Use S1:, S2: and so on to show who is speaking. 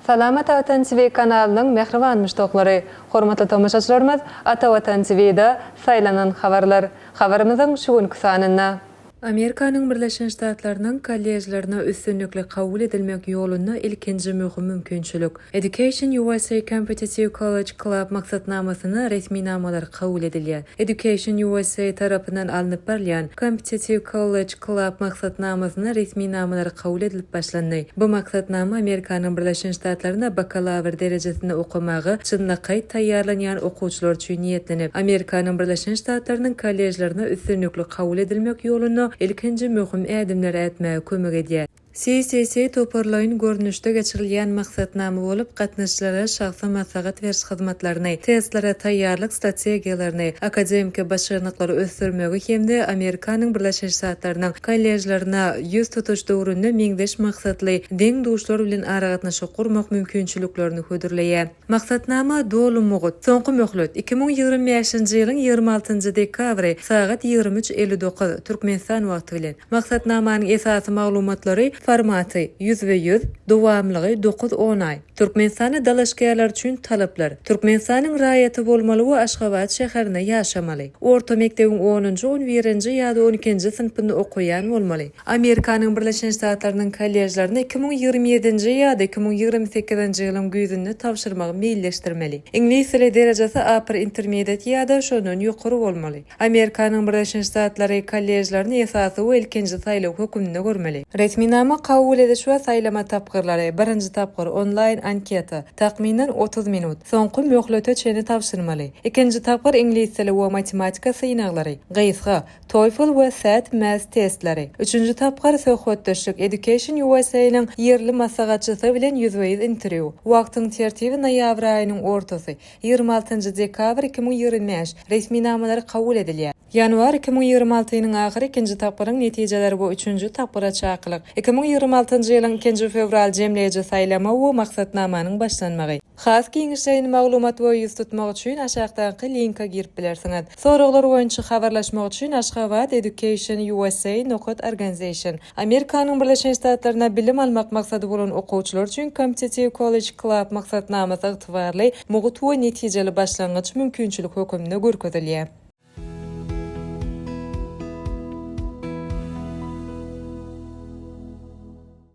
S1: Salamat Atan TV kanalynyň mähriban muşdaklary, hormatly tomaşaçylarymyz Ata Watan TVda Saýlanan habarlar habarymyzyň şu günki sanynda. Amerikanyň Birleşen Ştatlarynyň kollejlerine üstünlikli kabul edilmek ýolunda ilkinji möhüm mümkinçilik. Education USA Competitive College Club maksatnamasyna resminamalary kabul edilýär. Education USA tarapyndan alnyp barylýan Competitive College Club maksatnamasynda resminamalary kabul edilip başlandy. Bu maksatnama Amerikanyň Birleşen Ştatlarynda bakalawr derejesinde okamaga çynlakaý taýýarlanýan okuwçylar üçin niýetlenip, Amerikanyň Birleşen Ştatlarynyň kollejlerine üstünlikli kabul edilmek ýolunda ilkinji möhüm ädimleri ätmäge kömek edýär. CCC toparlaýyn görnüşde geçirilýän maksatnama bolup, gatnaşyjylara şahsy maslahat beriş hyzmatlaryny, testlere taýýarlyk strategiýalaryny, akademiki başarnyklary ösdürmegi hem-de Amerikanyň Birleşen Ştatlarynyň kolležlerine ýüz tutuş döwründe meňzeş maksatly deň-duşlar bilen aragatnaşyk gurmak mümkinçiliklerini hödürleýär. Maksatnama doly mugt. Soňky möhlet, iki müň ýigrimi bäşinji ýylyň ýigrimi altynjy dekabry sagat ýigrimi üç elli dokuz, Türkmenistan wagty bilen. Maksatnamanyň esasy maglumatlary, formaty, ýüzbe-ýüz, dowamlygy, dokuz on aý. Türkmenistana dalaşgärler üçin talaplar, Türkmenistanyň raýaty bolmaly we Aşgabat şäherinde ýaşamaly. Orta mekdebiň onunjy, on birinji ýa-da on ikinji synpynda okaýan bolmaly. Amerikanyň Birleşen Ştatlarynyň kollejlerine iki müň ýigrimi ýedinji ýa-da iki müň ýigrimi sekizinji ýylyň güýzünde tabşyrmagy meýilleşdirmeli. Iňlis dili derejesi upper intermediate ýa-da şondan ýokary bolmaly. Amerikanyň Birleşen Ştatlary kollejlerini esasy we ilkinji saýlaw höküminde görmeli. Resminama kabul ediş we saýlama tapgyrlary, birinji tapgyr, onlaýn anketa, takmynan otuz minut, soňky möhlete çenli tabşyrmaly. Ikinji tapgyr iňlis dili we matematika synaglary, gysga, TOEFL we SAT Math testleri. Üçünji tapgyr Söhbetdeşlik Education USA-nyň ýerli maslahatçysy bilen ýüzbe-ýüz interwýu. Wagtyň tertibi Noýabr aýynyň ortasy, ýigrimi altynjy dekabr iki müň ýigrimi bäş, resminamalary kabul edilýär. Ýanwar iki müň ýigrimi altynyň ahyry ikinji tapgyryň netijeleri we üçünji tapgyra çakylyk. Iki müň ýigrimi altynjy ýylyň ikinji fewral jemleýji saýlama we maksatnamanyň başlanmagy. Has giňişleýin maglumat we ýüz tutmak üçin aşakdaky linka girip bilersiňiz. Soraglar boýunça habarlaşmak üçin Ashgabat Education usa nokat organization Amerikanyň Birleşen Ştatlarynda bilim almak maksady bolan okuwçylar üçin Competitive College Club maksatnamasy ygtybarly, mugt we netijeli başlangyç mümkinçilik höküminde görkezilýär.